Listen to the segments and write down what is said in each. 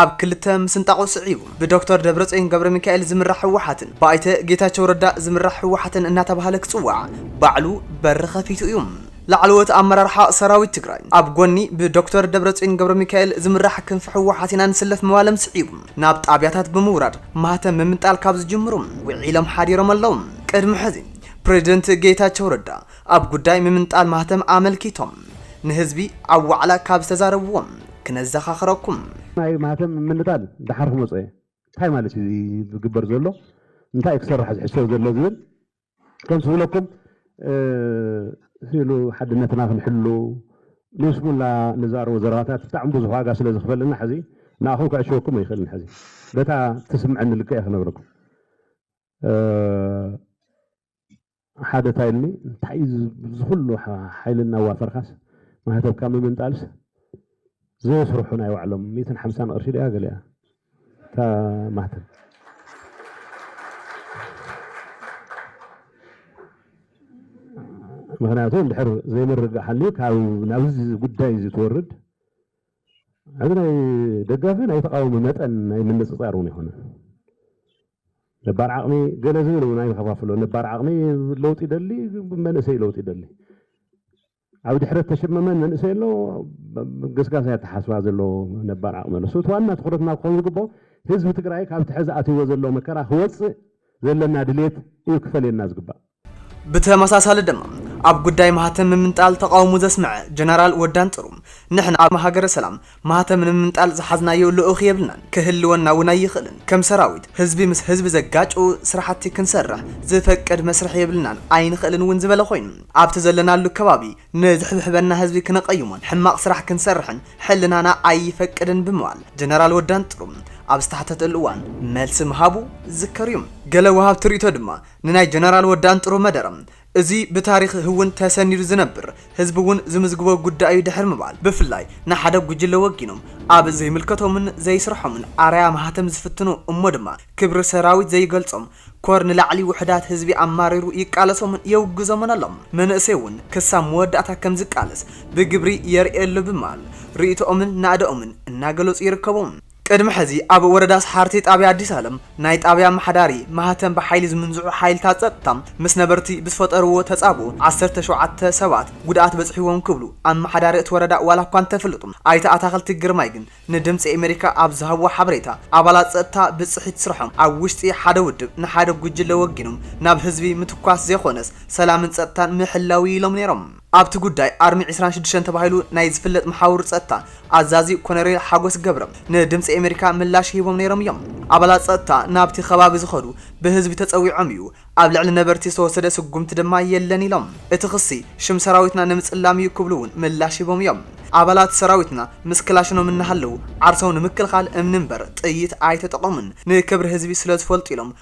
ኣብ ክልተ ምስንጣቑ ስዒቡ ብዶክተር ደብረጽዮን ገብረሚካኤል ዝምራሕ ህወሓትን ብኣይተ ጌታቸው ረዳ ዝምራሕ ህወሓትን እናተባህለ ክጽዋዕ ባዕሉ በሪ ከፊቱ እዩ። ላዕለዎት ኣመራርሓ ሰራዊት ትግራይ ኣብ ጎኒ ብዶክተር ደብረጽዮን ገብረሚካኤል ዝምራሕ ክንፊ ህወሓት ኢና ንስለፍ ምባሎም ስዒቡ ናብ ጣብያታት ብምውራድ ማህተም ምምንጣል ካብ ዝጅምሩ ውዒሎም ሓዲሮም ኣለዉ። ቅድሚ ሕዚ ፕረዚደንት ጌታቸው ረዳ ኣብ ጉዳይ ምምንጣል ማህተም ኣመልኪቶም ንህዝቢ ኣብ ዋዕላ ካብ ዝተዛረብዎም ክነዘኻኽረኩም። ናይ ማህተም ምምንጣል ደሓር ክመጾ እየ፣ እንታይ ማለት እዩ እዚ ዝግበር ዘሎ፣ እንታይ እዩ ክስራሕ ዝሕሰብ ዘሎ ዝብል ከምቲ ዝብለኩም ስኢሉ ሓድነትና ክንሕሉ ንይስሙላ ንዛረቦ ዘረባታት ብጣዕሚ ብዙሕ ዋጋ ስለ ዝኽፈለና ሕዚ ንኣኹም ከዕሽወኩም ኣይኽእልን ሕዚ በታ ትስምዐኒ ልክዕ እየ ክነግረኩም። ሓደ እንታይ ኢሉኒ እንታይ እዩ ዝኩሉ ሓይሊ እናዋፈርካስ ማህተብካ ምምንጣልስ ዘየስርሑ ናይ ባዕሎም ሚትን ሓምሳን ቅርሺ ድያ ገሊያ እታ ማህተብ ምክንያቱ እንድሕር ዘይምርጋእ ሓልዩ ካብ ናብዚ ጉዳይ እዚ ትወርድ እዚ ናይ ደጋፊ ናይ ተቃወሚ መጠን ናይ ምንፅፃር እውን ይኮነ ነባር ዓቕሚ ገለ ዝብል እውን ኣይንኸፋፍሎ። ነባር ዓቕሚ ለውጢ ይደሊ፣ መንእሰይ ለውጢ ይደሊ። ኣብ ድሕረት ተሸመመን መንእሰይ ኣሎ ገስጋስ ኣተሓስባ ዘለዎ ነባር ዓቕሚ ኣሎ። እቲ ዋና ትኩረትና ክኾን ዝግብኦ ህዝቢ ትግራይ ካብቲ ሕዚ ኣትይዎ ዘሎ መከራ ክወፅእ ዘለና ድሌት እዩ ክፈልየና ዝግባእ። ብተመሳሳሊ ድማ ኣብ ጉዳይ ማህተም ምምንጣል ተቓውሞ ዘስመዐ ጀነራል ወዲ ኣንጥሩ፣ ንሕና ኣብ ሃገረ ሰላም ማህተም ንምምንጣል ዝሓዝናዮ ልኡኽ የብልናን፣ ክህልወና እውን ኣይኽእልን፣ ከም ሰራዊት ህዝቢ ምስ ህዝቢ ዘጋጭው ስራሕቲ ክንሰርሕ ዝፈቅድ መስርሕ የብልናን ኣይንኽእልን እውን ዝበለ ኮይኑ፣ ኣብቲ ዘለናሉ ከባቢ ንዝሕብሕበና ህዝቢ ክነቐይሞን ሕማቕ ስራሕ ክንሰርሕን ሕልናና ኣይፈቅድን ብምባል ጀነራል ወዲ ኣንጥሩ ኣብ ዝተሓተተሉ እዋን መልሲ ምሃቡ ዝዝከር እዩ። ገለ ወሃብቲ ርእይቶ ድማ ንናይ ጀነራል ወዲ ኣንጥሩ መደረ እዚ ብታሪኽ ህውን ተሰኒዱ ዝነብር ህዝቢ እውን ዝምዝግቦ ጉዳይ እዩ ድሕሪ ምባል ብፍላይ ንሓደ ጉጅለ ወጊኖም ኣብ ዘይምልከቶምን ዘይስርሖምን ኣርኣያ ማህተም ዝፍትኑ እሞ ድማ ክብሪ ሰራዊት ዘይገልጾም ኮር ንላዕሊ ውሕዳት ህዝቢ ኣማሪሩ ይቃለሶምን የውግዞምን ኣሎ መንእሰይ እውን ክሳብ መወዳእታ ከም ዝቃለስ ብግብሪ የርእየሉ ብማል ርእይቶኦምን ናእደኦምን እናገለጹ ይርከቡ። ቅድሚ ሕዚ ኣብ ወረዳ ሰሓርቲ ጣብያ ኣዲስ ኣለም ናይ ጣብያ ኣመሓዳሪ ማህተም ብሓይሊ ዝምንዝዑ ሓይልታት ፀጥታ ምስ ነበርቲ ብዝፈጠርዎ ተፃብኦ ዓሰርተ ሸውዓተ ሰባት ጉድኣት በፂሕዎም ክብሉ ኣመሓዳሪ እቲ ወረዳ ዋላ እኳ እንተፍልጡ ኣይተ ኣታኽልቲ ግርማይ ግን ንድምፂ ኤሜሪካ ኣብ ዝሃብዎ ሓበሬታ ኣባላት ፀጥታ ብፅሒት ስርሖም ኣብ ውሽጢ ሓደ ውድብ ንሓደ ጉጅለ ወጊኖም ናብ ህዝቢ ምትኳስ ዘይኾነስ ሰላምን ፀጥታን ምሕላው እዩ ኢሎም ነይሮም። ኣብቲ ጉዳይ ኣርሚ ዕስራን ሽዱሽተን ተባሂሉ ናይ ዝፍለጥ መሓውር ጸጥታ ኣዛዚ ኮነሬል ሓጎስ ገብረ ንድምጺ ኤመሪካ ምላሽ ሂቦም ነይሮም እዮም። ኣባላት ጸጥታ ናብቲ ከባቢ ዝኸዱ ብህዝቢ ተጸዊዖም እዩ፣ ኣብ ልዕሊ ነበርቲ ዝተወሰደ ስጉምቲ ድማ የለን ኢሎም። እቲ ክሲ ሽም ሰራዊትና ንምጽላም እዩ ክብሉ እውን ምላሽ ሂቦም እዮም። ኣባላት ሰራዊትና ምስ ክላሽኖም እናሃለዉ ዓርሶም ንምክልኻል እምኒ እምበር ጥይት ኣይተጠቐሙን፣ ንክብሪ ህዝቢ ስለዝፈልጡ ኢሎም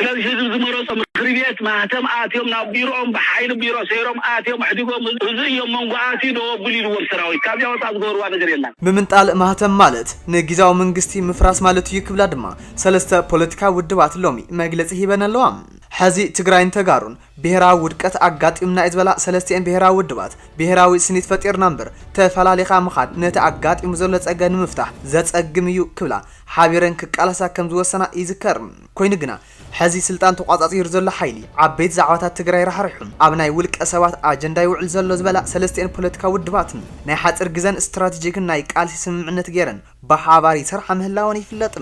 ስለዚ ህዝቢ ዝመረፆ ምክሪ ቤት ማህተም ኣትዮም ናብ ቢሮኦም ብሓይሊ ቢሮ ሰይሮም ኣትዮም ኣሕዲጎም እዚ እዮ መንጎ ኣትዩ ደው ኣብል ኢልዎም ሰራዊት ካብዚኣ ወፃእ ዝገበርዋ ነገር የላን። ምምንጣል ማህተም ማለት ንጊዛዊ ምንግስቲ ምፍራስ ማለት እዩ ክብላ ድማ ሰለስተ ፖለቲካዊ ውድባት ሎሚ መግለፂ ሂበን ኣለዋ። ሐዚ ትግራይን ተጋሩን ብሄራዊ ውድቀት ኣጋጢሙና እዩ ዝበላ ሰለስቲኤን ብሄራዊ ውድባት ብሄራዊ ስኒት ፈጢርና እምበር ተፈላሊኻ ምኻድ ነቲ ኣጋጢሙ ዘሎ ፀገም ንምፍታሕ ዘፀግም እዩ ክብላ ሓቢረን ክቃለሳ ከምዝወሰና ይዝከር። ኮይኑ ግና ሐዚ ስልጣን ተቋፃፂሩ ዘሎ ሓይሊ ዓበይቲ ዛዕባታት ትግራይ ራሕሪሑ ኣብ ናይ ውልቀ ሰባት ኣጀንዳ ይውዕል ዘሎ ዝበላ ሰለስቲኤን ፖለቲካዊ ውድባትን ናይ ሓፂር ግዘን ስትራቴጂክን ናይ ቃልሲ ስምምዕነት ገይረን ብሓባር ይሰርሓ ምህላወን ይፍለጥ።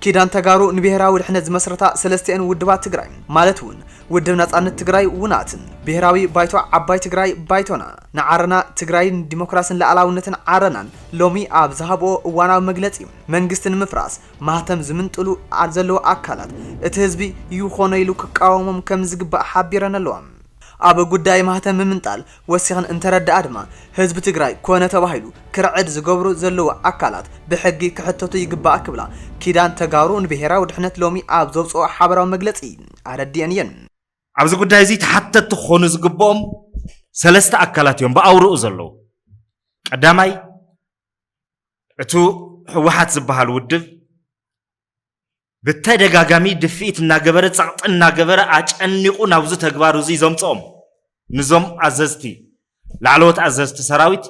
ኪዳን ተጋሩ ንብሄራዊ ድሕነት ዝመስረታ ሰለስቲኤን ውድባት ትግራይ ማለት እውን ውድብ ናፃነት ትግራይ፣ ውናት፣ ብሄራዊ ባይቶ ዓባይ ትግራይ፣ ባይቶና፣ ንዓረና ትግራይ ንዲሞክራሲን ልኣላውነትን ዓረናን ሎሚ ኣብ ዝሃብኦ እዋናዊ መግለፂ መንግስቲ ንምፍራስ ማህተም ዝምንጥሉ ኣብ ዘለዉ ኣካላት እቲ ህዝቢ ይኾኖ ኢሉ ክቃወሞም ከም ዝግባእ ሓቢረን'ለዋ። ኣብ ጉዳይ ማህተም ምምንጣል ወሲኽን እንተረደኣ ድማ፣ ህዝቢ ትግራይ ኮነ ተባሂሉ ክርዕድ ዝገብሩ ዘለዉ ኣካላት ብሕጊ ክሕተቱ ይግባእ ክብላ ኪዳን ተጋሩ ንብሄራዊ ድሕነት ሎሚ ኣብ ዘውጽኦ ሓበራዊ መግለጺ ኣረዲኤን እየን። ኣብዚ ጉዳይ'ዚ ተሓተትቲ ክኾኑ ዝግበኦም ሰለስተ ኣካላት እዮም ብኣውርኡ ዘለዉ። ቀዳማይ፣ እቱ ህወሓት ዝበሃል ውድብ ብተደጋጋሚ ድፍኢት እናገበረ ጸቕጢ እናገበረ ኣጨኒቑ ናብዚ ተግባር እዙይ ዘምፅኦም ንዞም ኣዘዝቲ ላዕለዎት ኣዘዝቲ ሰራዊት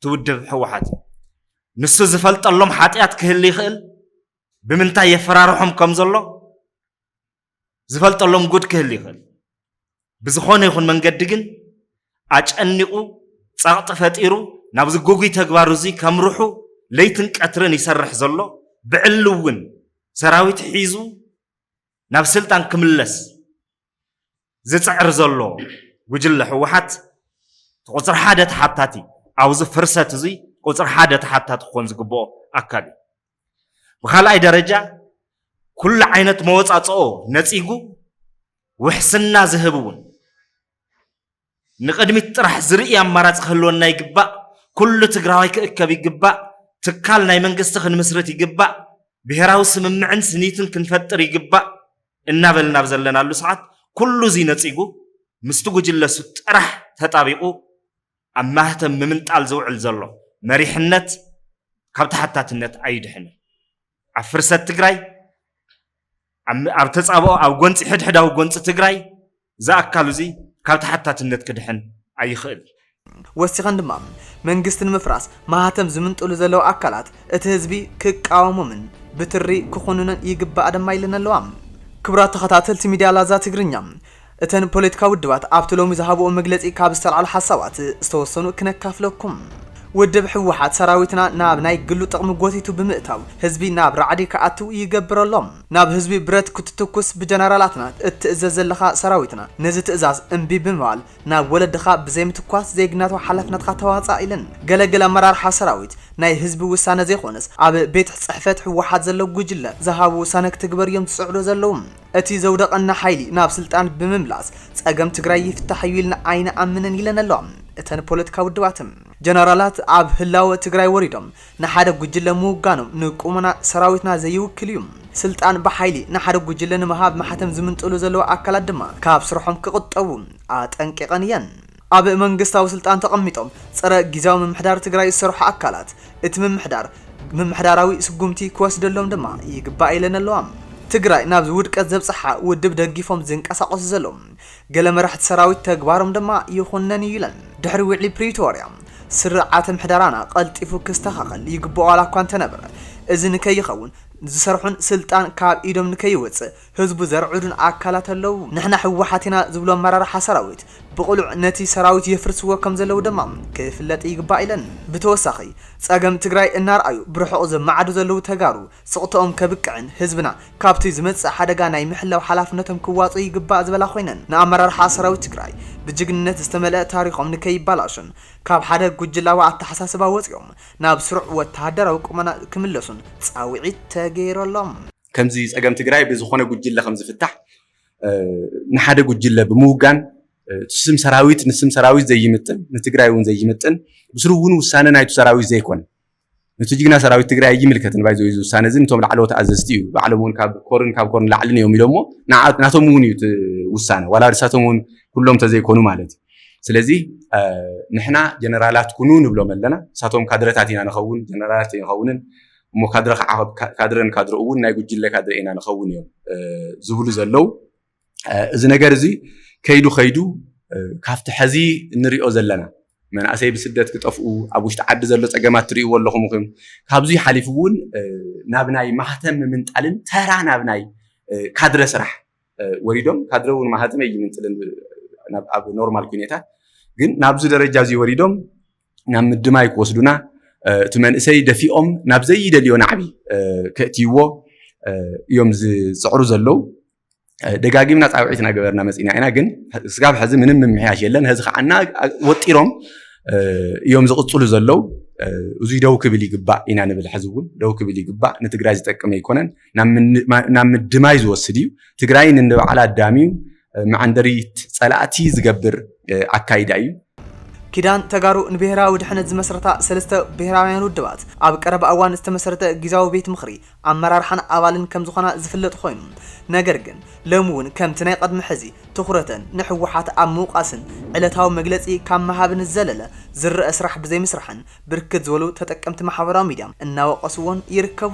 ትውድብ ህወሓት ንሱ ዝፈልጠሎም ሓጢኣት ክህል ይኽእል ብምንታይ የፈራርሖም ከም ዘሎ ዝፈልጠሎም ጉድ ክህል ይኽእል ብዝኾነ ይኹን መንገዲ ግን ኣጨኒቑ ጸቕጢ ፈጢሩ ናብዚ ጉጉይ ተግባር እዚ ከምርሑ ለይትን ቀትርን ይሰርሕ ዘሎ ብዕሊ እውን ሰራዊት ሒዙ ናብ ስልጣን ክምለስ ዝፅዕር ዘሎ ጉጅለ ህወሓት ቁፅሪ ሓደ ተሓታቲ ኣብዚ ፍርሰት እዚ ቁፅሪ ሓደ ተሓታቲ ክኾን ዝግብኦ ኣካል እዩ ብካልኣይ ደረጃ ኩሉ ዓይነት መወፃፅኦ ነፂጉ ውሕስና ዝህብ እውን ንቅድሚት ጥራሕ ዝርኢ ኣማራፂ ክህልወና ይግባእ። ኩሉ ትግራዋይ ክእከብ ይግባእ። ትካል ናይ መንግስቲ ክንምስርት ይግባእ። ብሄራዊ ስምምዕን ስኒትን ክንፈጥር ይግባእ እናበልና ኣብ ዘለናሉ ሰዓት ኩሉ እዙይ ነፂጉ ምስቲ ጉጅለ እሱ ጥራሕ ተጣቢቑ ኣብ ማህተም ምምንጣል ዝውዕል ዘሎ መሪሕነት ካብ ተሓታትነት ኣይድሕንን። ኣብ ፍርሰት ትግራይ፣ ኣብ ተፃብኦ፣ ኣብ ጎንፂ ሕድሕዳዊ ጎንፂ ትግራይ እዚ ኣካል እዚ ካብ ተሓታትነት ክድሕን ኣይኽእልን። ወሲኸን ድማ መንግስቲ ንምፍራስ ማህተም ዝምንጥሉ ዘለዉ ኣካላት እቲ ህዝቢ ክቃወሞምን ብትሪ ክኹንኖን ይግባእ ድማ ኢለን ኣለዋ። ክቡራት ተኸታተልቲ ሚድያ ላዛ ትግርኛ እተን ፖለቲካዊ ውድባት ኣብቲ ሎሚ ዝሃብኦ መግለጺ ካብ ዝተልዓሉ ሓሳባት ዝተወሰኑ ክነካፍለኩም። ውድብ ህወሓት ሰራዊትና ናብ ናይ ግሉ ጥቕሚ ጎቲቱ ብምእታው ህዝቢ ናብ ራዕዲ ክኣትው ይገብር ኣሎ። ናብ ህዝቢ ብረት ክትትኩስ ብጀነራላትና እትእዘዝ ዘለኻ ሰራዊትና ነዚ ትእዛዝ እምቢ ብምባል ናብ ወለድኻ ብዘይምትኳስ ዜግነታዊ ሓላፍነትኻ ተዋፃእ ኢለን። ገለ ገለ ኣመራርሓ ሰራዊት ናይ ህዝቢ ውሳነ ዘይኾነስ ኣብ ቤት ፅሕፈት ህወሓት ዘሎ ጉጅለ ዝሃቦ ውሳነ ክትግበር እዮም ዝፅዕሩ ዘለዉ። እቲ ዘውደቐና ሓይሊ ናብ ስልጣን ብምምላስ ፀገም ትግራይ ይፍታሕ እዩ ኢልና ኣይንኣምንን ኢለን ኣለዋ እተን ፖለቲካ ውድባት። ጀነራላት ኣብ ህላወ ትግራይ ወሪዶም ንሓደ ጉጅለ ምውጋኖም ንቁመና ሰራዊትና ዘይውክል እዩ። ስልጣን ብሓይሊ ንሓደ ጉጅለ ንምሃብ ማሕተም ዝምንጥሉ ዘለዉ ኣካላት ድማ ካብ ስርሖም ክቑጠቡ ኣጠንቂቐን እየን። ኣብ መንግስታዊ ስልጣን ተቐሚጦም ፀረ ጊዚያዊ ምምሕዳር ትግራይ ዝሰርሑ ኣካላት እቲ ምምሕዳር ምምሕዳራዊ ስጉምቲ ክወስደሎም ድማ ይግባእ ኢለን ኣለዋ። ትግራይ ናብዚ ውድቀት ዘብፀሓ ውድብ ደጊፎም ዝንቀሳቐሱ ዘለዉ ገለ መራሕቲ ሰራዊት ተግባሮም ድማ ይኹነን እዩ ኢለን። ድሕሪ ውዕሊ ፕሪቶርያ ስርዓተ ምሕደራና ቀልጢፉ ክስተኻኸል ይግበኦ ዋላ እኳ እንተነበረ እዚ ንከይኸውን ዝሰርሑን ስልጣን ካብ ኢዶም ንከይወፅእ ህዝቡ ዘርዕዱን ኣካላት ኣለው ንሕና ህወሓት ኢና ዝብሉ ኣመራርሓ ሰራዊት ብቕሉዕ ነቲ ሰራዊት የፍርስዎ ከምዘለው ድማ ክፍለጥ ይግባእ ኢለን። ብተወሳኺ ፀገም ትግራይ እናርኣዩ ብርሑቕ ዝመዓዱ ዘለው ተጋሩ ስቕተኦም ከብቅዕን ህዝብና ካብቲ ዝመፅእ ሓደጋ ናይ ምሕላው ሓላፍነቶም ክዋፅኡ ይግባእ ዝበላ ኮይነን ንኣመራርሓ ሰራዊት ትግራይ ብጅግንነት ዝተመልአ ታሪኾም ንከይባላሾን ካብ ሓደ ጉጅላዊ ኣተሓሳስባ ወፂኦም ናብ ስሩዕ ወተሃደራዊ ቁመና ክምለሱን ፃውዒት ተገይረሎም። ከምዚ ፀገም ትግራይ ብዝኾነ ጉጅለ ከምዝፍታሕ ንሓደ ጉጅለ ብምውጋን ስም ሰራዊት ንስም ሰራዊት ዘይምጥን ንትግራይ እውን ዘይምጥን ብስሩ እውን ውሳነ ናይቱ ሰራዊት ዘይኮነ ነቲ ጅግና ሰራዊት ትግራይ ኣይምልከትን ባይዘ እዚ ውሳነ እዚ ንቶም ላዕለዎት ኣዘዝቲ እዩ ባዕሎም እውን ካብ ኮርን ካብ ኮርን ላዕልን እዮም ኢሎሞ ናቶም እውን እዩ ውሳነ ዋላ ንሳቶም እውን ኩሎም ተዘይኮኑ ማለት እዩ ስለዚ ንሕና ጀነራላት ኩኑ ንብሎም ኣለና ንሳቶም ካድረታት ኢና ንኸውን ጀነራላት ይኸውንን እሞ ካድረ ክዓቐብ ካድረ ንካድረ እውን ናይ ጉጅለ ካድረ ኢና ንኸውን እዮም ዝብሉ ዘለው እዚ ነገር እዚ ከይዱ ከይዱ ካብቲ ሕዚ እንሪኦ ዘለና መንእሰይ ብስደት ክጠፍኡ ኣብ ውሽጢ ዓዲ ዘሎ ፀገማት ትርእይዎ ኣለኹም ኹም ካብዚ ሓሊፉ እውን ናብ ናይ ማህተም ምምንጣልን ተራ ናብ ናይ ካድረ ስራሕ ወሪዶም ካድረ እውን ማህተም እይምንጥልን ኣብ ኖርማል ኩነታት ግን ናብዚ ደረጃ እዚ ወሪዶም ናብ ምድማይ ክወስዱና እቲ መንእሰይ ደፊኦም ናብ ዘይደልዮ ናዕቢ ከእትይዎ እዮም ዝፅዕሩ ዘለው ደጋጊምና ፃውዒት እናገበርና መፂና ኢና ግን ስጋብ ሕዚ ምንም ምምሕያሽ የለን ሕዚ ከዓ እና ወጢሮም እዮም ዝቕፅሉ ዘለው እዙይ ደው ክብል ይግባእ ኢና ንብል ሕዚ እውን ደው ክብል ይግባእ ንትግራይ ዝጠቅም ኣይኮነን ናብ ምድማይ ዝወስድ እዩ ትግራይ ንንባዕላ ኣዳምዩ መዐንደሪት ፀላእቲ ዝገብር ኣካይዳ እዩ። ኪዳን ተጋሩ ንብሄራዊ ድሕነት ዝመስረታ ሰለስተ ብሄራውያን ውድባት ኣብ ቀረባ እዋን ዝተመስረተ ጊዛዊ ቤት ምኽሪ ኣመራርሓን ኣባልን ከምዝኾና ዝፍለጥ ኾይኑ ነገር ግን ሎሚ እውን ከምቲ ናይ ቐድሚ ሕዚ ትኹረተን ንሕወሓት ኣብ ምውቃስን ዕለታዊ መግለፂ ካብ ምሃብን ዝዘለለ ዝረኣ ስራሕ ብዘይምስራሕን ብርክት ዝበሉ ተጠቀምቲ ማሕበራዊ ሚዲያ እናወቀስዎን ይርከቡ።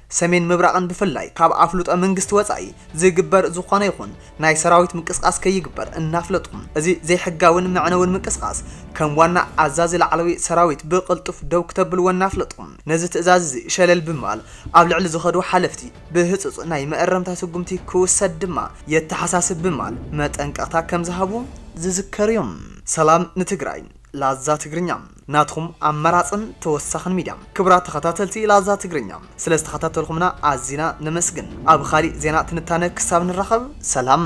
ሰሜን ምብራቕን ብፍላይ ካብ ኣፍልጦ መንግስቲ ወጻኢ ዝግበር ዝኾነ ይኹን ናይ ሰራዊት ምንቅስቓስ ከይግበር እናፍለጡ እዚ ዘይሕጋዊን መዕነዊን ምንቅስቓስ ከም ዋና ኣዛዚ ላዕለዊ ሰራዊት ብቕልጡፍ ደው ክተብልዎ እናፍለጡ ነዚ ትእዛዝ እዚ ሸለል ብምባል ኣብ ልዕሊ ዝኸዱ ሓለፍቲ ብህጹጽ ናይ መእረምታ ስጉምቲ ክውሰድ ድማ የተሓሳስብ ብምባል መጠንቀቕታ ከምዝሃቡ ዝዝከር እዩ። ሰላም ንትግራይ ላዛ ትግርኛ። ናትኹም ኣማራጽን ተወሳኽን ሚድያ። ክቡራት ተኸታተልቲ ላዛ ትግርኛ ስለ ዝተኸታተልኹምና ኣዚና ነመስግን። ኣብ ኻሊእ ዜና ትንታነ ክሳብ ንራኸብ ሰላም።